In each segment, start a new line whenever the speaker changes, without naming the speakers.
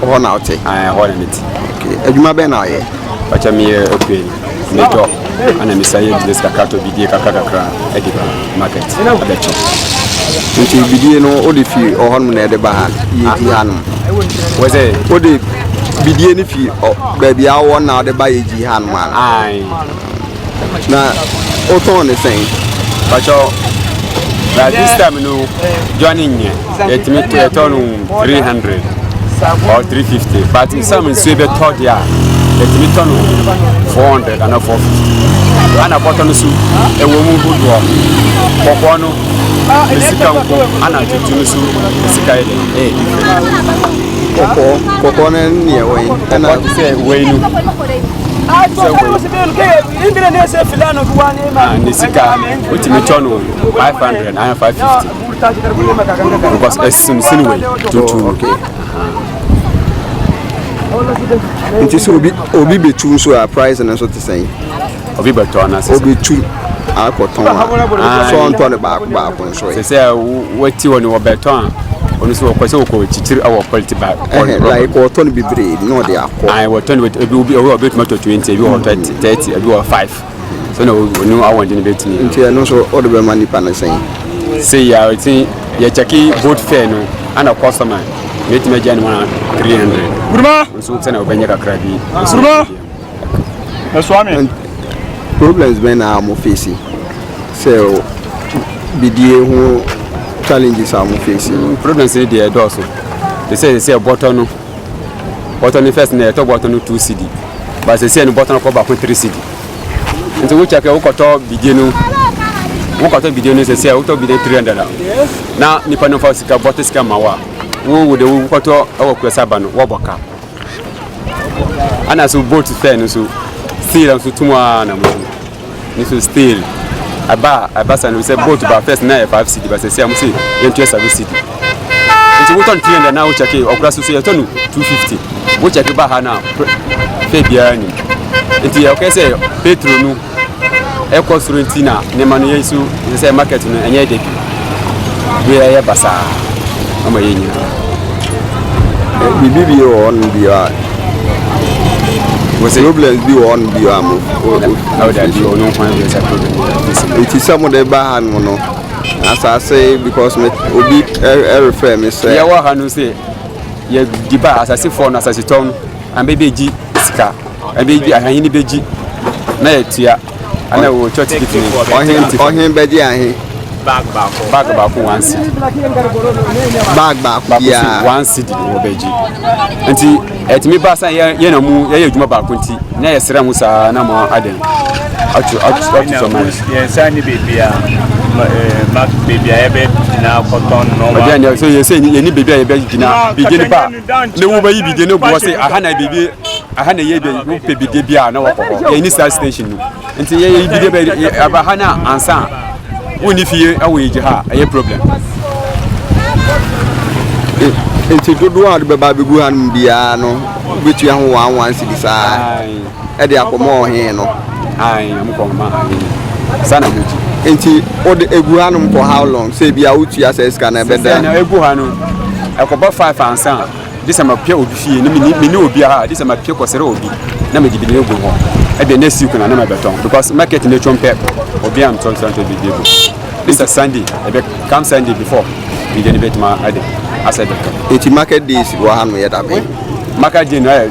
Hɔ na ɔte? Ɛɛ hɔ na mete. Okay. Adwuma bɛn na ɔyɛ? Ɔkyɛ meyɛ okuani. Metɔ ɛna mesa yɛ business kakra tɔ bidie kakra kakra ɛde ba market ɛbɛtɔ. Nti bidie no wode fi ɔhɔ nom na ɛde ba ha yɛdi ha nom? Wɔ sɛ? Wode bidie no fi baabi a wɔ na wode ba yɛdi ha nom a? Ae. Na wotɔn ne sɛn? Pakyɛ na this time no dwan nyɛ yɛtumi yɛtɔ no 300 or 350 but sɛ me nsuo bɛtɔ deɛ a yɛtumi tɔ no 400 ana 450 ana bɔtɔ no so ɛwɔ mu hodoɔ kɔkɔɔ no ne sika nko ana tuntum so ne sika yɛ dɛn ɛyɛ different kɔkɔɔ kɔkɔɔ no ne ɛwɔ yi ɛna sɛ wei no ne sika wotumi tɔ no 500 ayɛ 550 because ɛsimsini wei tuntum nti sɛ obi obi bɛtu nso a price no nso te sɛn obi bɛtɔ no asɛ obi tu akɔtɔn a sɛ ɔntɔ no baako baako sɛ sɛ wɔti hɔ no wɔbɛtɔn a ɔno nso wɔkɔ sɛ wɔkɔ kyikyiri wɔ quality bag like wɔtɔ no bebree na ɔde akɔ ayi wɔtɔ no ebi obi obi obi tuma tɔ twenty ebi wɔ thirty mm. thirty ebi wɔ five so na ɔno awɔn de no bɛ tumi. nti ɛno nso ɔde bɛ ma nipa no sɛn. sɛ yɛ a ɔti yɛ kyɛki boat fare no ana kɔsɔma mɛ tuma gya no ma three hundred. buruma nso sɛ na ɔbɛnyɛ kakra bi. buruma. Ɛsoa me. Problems bɛn na mo face sɛ bidie ho challenges a mo face? Mm, problems ni deɛ ɛdɔɔso te sɛ sɛ sɛ bɔtɔ no bɔtɔ no first na yɛtɔ bɔtɔ no two cd ba sɛ sɛ no bɔtɔ no kɔ baako three cd nti wo kyɛkɛ wokɔtɔ bidie no wokɔtɔ bidie no sɛ sɛ wotɔ bidie three hundred na nipa no fa sika bɔtɔ sika ma wo a wo wo de wokɔtɔ ɛwɔ kurasa ba no wɔbɔ ka ana so boat fɛ no so still nso tum a na mo so ne so still ɛba a ɛba sa no sɛ boat ba first na yɛ five cd ba sɛ si a mo se yɛn tuyɛ seven cd nti wotɔ no three hundred na wokyɛ ke ɔkura so so yɛtɔ no two fifty wokyɛ ke ba ha na fɛ biara nim nti yɛ ɔkɛ sɛ petro no ɛkɔ soro nti na nneɛma no yɛ so sɛ market no ɛnyɛ dɛ bi bi ɛyɛ basaa ama yɛ nyina biribi bi wɔ hɔ no bi a wɔsɛ problems bi wɔ hɔ no bi a mo ɛti sɛ mode ba ha no no asase because me obi ɛrefrɛ me sɛ yɛwɔ ha no sɛ yɛdi ba asasefoɔ no asasetɔn no ambɛbɛgyi sika Ɛbɛyɛ bi ahene bɛgye na yɛtua ana wɔ church kiti ni ɔhen ti ɔhen bɛgye ahe bag baako bag baako one city bag baako baako si one city ni wɔ bɛgye nti ɛtumi ba san yɛ yɛ na mu yɛyɛ adwuma baako nti na yɛ srɛ ho saa na mo adɛn ato ato ato sɔ mari. yɛn nsa ni beebi a ma beebi a yɛbɛ gyina akɔtɔn nɔɔma. ɔdi yɛn sɛ yɛn ni beebi a yɛbɛ gyina beginning part. ne wo bɛyi bidie ne boɔ se aha na biribi aha na ɛyɛ bɛyi wopɛ bidie bi a na wɔkɔ hɔ yɛn ni saa station no nti yɛyɛ bidie bɛ aba ha na ansa a wonni fie ɛwɔ yɛ gye ha ɛyɛ problem nti dodoɔ a wode bɛba bɛgu ha no biara no wobɛtua ho wɔn anwansi bi saa ɛde akɔma ɔhene no. Ae, na mokɔ ma ae no. Saa na moti. Nti wode egu ha nom for how long? Sɛ ebi a wotua sɛ sika na ɛbɛda. Sɛ na egu ha no, ɛkɔba five ansa a, gye sɛ mapia obi fie na mini mini obi aha, gye sɛ mapia kɔsrɛ obi na mede bi na egu hɔ. Ɛde next week na na mɛbɛtɔn because market no twom pɛ, obi a mtɔn tɔn tɔn biribi egu. This is Sunday, ɛbɛ come Sunday before biribi no bɛtuma ɛde asɛ bɛtɔn. Nti market days wɔ ha no yɛ da bɛn? Market day no ɛyɛ.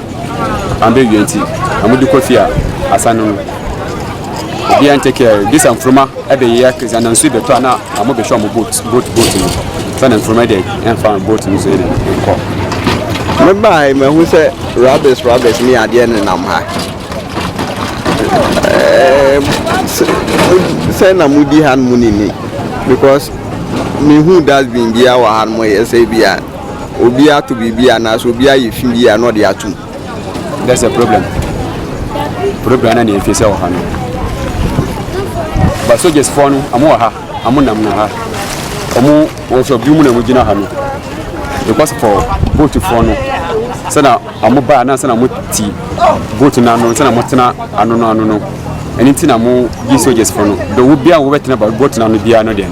Ɔandwen dua ntsi, na mode kɔ fie a, asan no no. Obiara nntse kɛ dɛ sɛ mfruma bɛ yea kɛ, dze anansu bɛtɔ a na amo bɛhwɛ ɔmo boat, boat, boat no. Sɛ na mfruma dɛ yɛmfa boat no so yɛne no nkɔ. Mebae mahu sɛ rubbish, rubbish ne adeɛ ne nam ha. Sɛ na modi ha no mu nini because mehu dustbin biara wɔ ha no mo yɛ sɛ bi a. Obi ato biribi anaasɛ obi ayɛ fi bi a na ɔde atom. That's a problem. Problem na nea efisɛ wɔ ha no. Ba soldiers fɔ no, ɔmo wɔ ha, ɔmo nam no ha. Ɔmo wɔn so bi mu na ɔmo gyina ha no. Because for boat fɔ no, sɛ na ɔmo ba na sɛ na ɔmo ti boat no ano, sɛ na ɔmo tena ano no ano no. Ɛno nti na ɔmo gye soldiers fɔ no. Do wo bia wo bɛtena boat no ano bia no deɛ.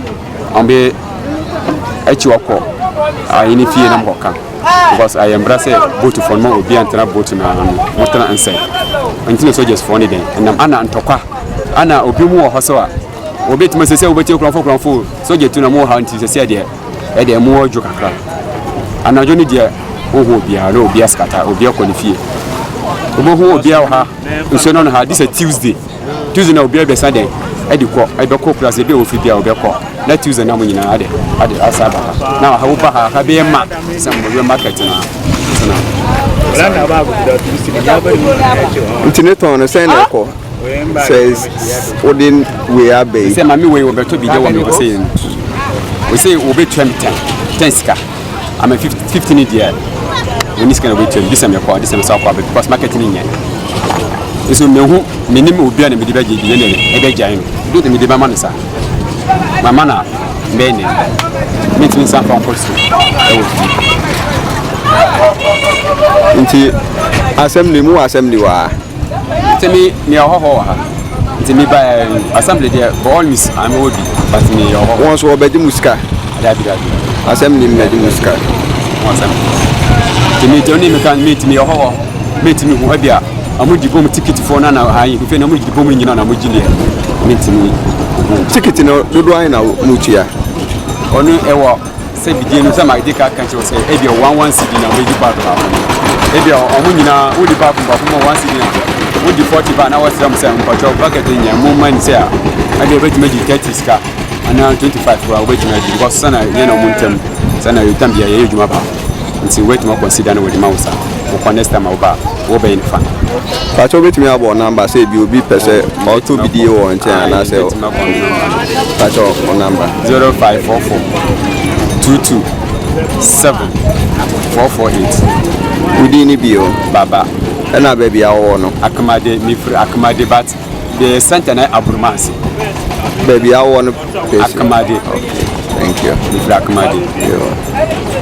wɔn de akyi ɔkɔ ayi ne fie na mo kɔka because ayɛ mbra sɛ boat fɔ no ma obi antena boat no ano mo tena nsɛn nti na soldiers fɔ ne dɛn ɛnam ana ntɔkwa ana obi mu wɔ hɔ so a obi tuma sɛ sɛ wobɛtie kurɔfo kurɔfo soldier tu na mo wɔ ha nti sɛ sɛ deɛ ɛdeɛ mo wɔ dwo kakra anadwo ne deɛ wohu obiara na obiara sikata obiara kɔ ne fie wobɛhu obiara wɔ ha nsuo no no ha this a tuesday Tuesday na obi abɛsa dɛn ɛde kɔ ɛbɛkɔ kura sɛ ebi a ofi bi a ɔbɛkɔ na Tuesday na mo nyinaa ade ade asa aba ha na ɔha woba ha ha bɛyɛ ma sɛ mo bɛyɛ market na sena. nti ne tɔn no sɛn na ɛkɔ sɛ wode wei abɛyi sɛ ma me wei wɔbɛtɔ bi dɛ wɔ me wɔ sɛ yɛ no wɔ sɛ wɔbɛtua me tɛn tɛn sika I'm a 50, 50 ni deɛ wɔn ni sika na wɔbɛtua mu disɛm yɛ kɔ disɛm sa kɔ abɛ because market ni nyɛ nso mehu menim obi a na mede bɛgye bi yɛ nɛde ɛbɛ gyae no bi de mede bɛma no sa mama na bɛyɛ nɛ mentumi nsa mfa nkɔ so ɛwɔ fie nti asɛm ni mu wɔ asɛm ni wɔ a Nti me me ɔhɔhɔ wɔ ha. Nti me ba eh, assembly deɛ for all means ame wɔ bi but me yɛ ɔhɔhɔ. Wɔn so wɔbɛgye mu sika. Dabi dabi. Assembly mu bɛgye mu sika. Wɔn assembly. Nti me deɛ ɔne me kan me nti me ɔhɔhɔ me nti me hu ɛbi a ɔmo di bom tikiti fo na na ayi nfe na ɔmo di bom nyina na ɔmo gyi deɛ me nti me. Tikiti no dodo ayi na mo tua. Ɔno ɛwɔ. sɛ bidie no sɛ magye ka ka kyerɛ sɛ ebia wɔn wɔn si di na wɔn edi part baako ebia wɔn nyinaa wodi part baako mu wɔn si di na wodi forty ba na wɔsrɛ mo sɛ mpɔtɔ bucket nyɛ mo mma ni sɛ a ɛde ebetumi agye thirty sika anaa twenty five koraa wɔbɛtumi agye because sɛ na yɛn na wɔn ntɛm sɛ na yɛn tam bia yɛyɛ adwuma baako nti wɔbɛtumi akɔnsida na wɔde ma wo sa wɔkɔ next time a wɔba a Wo bɛn fa. Pakyɛ wobɛtumi abɔ number sɛ ebi obi pɛ sɛ ɔtɔ bidie wɔ nkyɛn anaasɛ pakyɛ wo number. Zero five four four two two seven four four eight. Wodin ne bi o. Baba. Ɛna baabi a wɔwɔ no. Akamade mefiri Akamade but the center na aburuma ase. Baabi a wɔwɔ no pɛsi. Akamade. Thank you. Mefiri Akamade. Yeah.